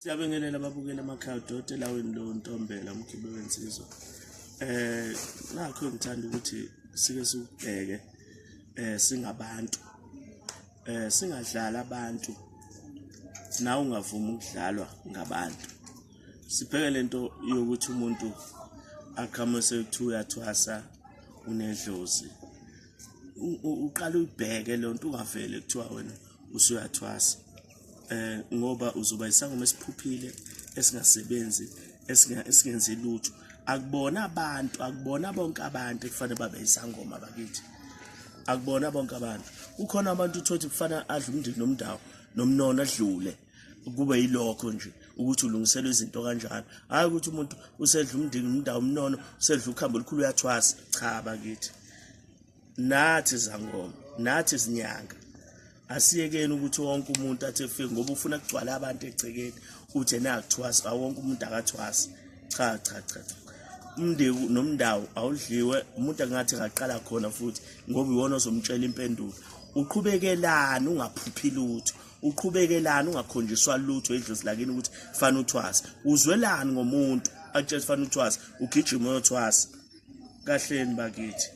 Siyabengelela ababukeli emakhaya udoti elawini lo Ntombela umkhibe wensizwa. Eh nakho ngithanda ukuthi sike sikubheke eh singabantu. Eh singadlala abantu. Nawe ungavuma ukudlalwa ngabantu. Sibheke lento yokuthi umuntu aqhamuke sekuthiwa uyathwasa unedlozi. Uqala uyibheke lento ungavele kuthiwa wena usuyathwasa. eh ngoba uzoba isangoma esiphuphile esingasebenzi esingenzi lutho akubona abantu akubona bonke abantu ekufanele babe isangoma bakithi akubona bonke abantu kukhona abantu uthothi kufana adla umndeni nomndawo nomnono adlule kube yilokho nje ukuthi ulungiselwe izinto kanjalo hayi ukuthi umuntu usedla umndeni umndawo umnono usedla ukhambo olukhulu uyathwasa cha bakithi nathi zangoma nathi zinyanga asiyekeni ukuthi wonke umuntu athi efike ngoba ufuna kugcwala abantu egcekeni uthi ena akuthwasi awonke umuntu akathwasi cha cha cha umndeku nomndawo awudliwe umuntu angathi ngaqala khona futhi ngoba iwona ozomtshela impendulo uqhubekelani ungaphuphi lutho uqhubekelani ungakhonjiswa lutho edlozi lakini ukuthi fana uthwasa uzwelani ngomuntu atshela fana uthwasa ugijima uyothwasa kahleni bakithi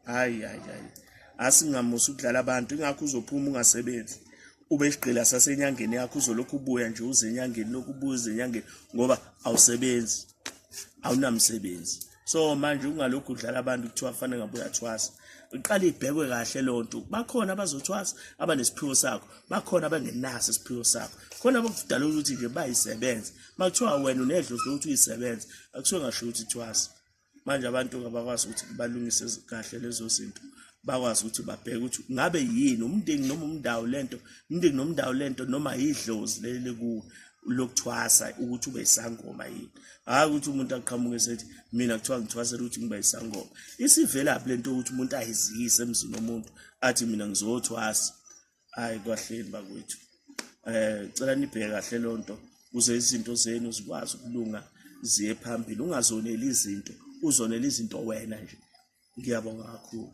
hayi hayi hayi asingamusa ukudlala abantu ingakho uzophuma ungasebenzi ube isigqila sasenyangeni yakho uzolokhu ubuya nje uze enyangeni lokhu ubuya uze enyangeni ngoba awusebenzi awunamsebenzi so manje ungalokhu udlala abantu kuthiwa fanele ngabe uyathwasa iqale ibhekwe kahle loo nto bakhona abazothwasa abanesiphiwo sakho bakhona abangenaso isiphiwo sakho khona abakudala ukuthi nje bayisebenze uma kuthiwa wena unedlozi lokuthi uyisebenze akuthiwe ngasho ukuthi thwasa manje abantu abakwazi ukuthi balungise kahle lezo zinto bakwazi ukuthi babheke ukuthi ngabe yini umndeni noma umndawo lento umndeni nomndawo lento noma yidlozi leli kuwe lokuthwasa ukuthi ube isangoma yini hayi ukuthi umuntu aqhamuke sethi mina kuthiwa ngithwasela ukuthi ngiba isangoma isivelaphi lento ukuthi umuntu ayiziyise emzini womuntu athi mina ngizothwasa hayi kwahleni bakwethu eh cela nibheke kahle lonto kuze izinto zenu zikwazi ukulunga ziye phambili ungazoneli izinto uzonela izinto wena nje ngiyabonga kakhulu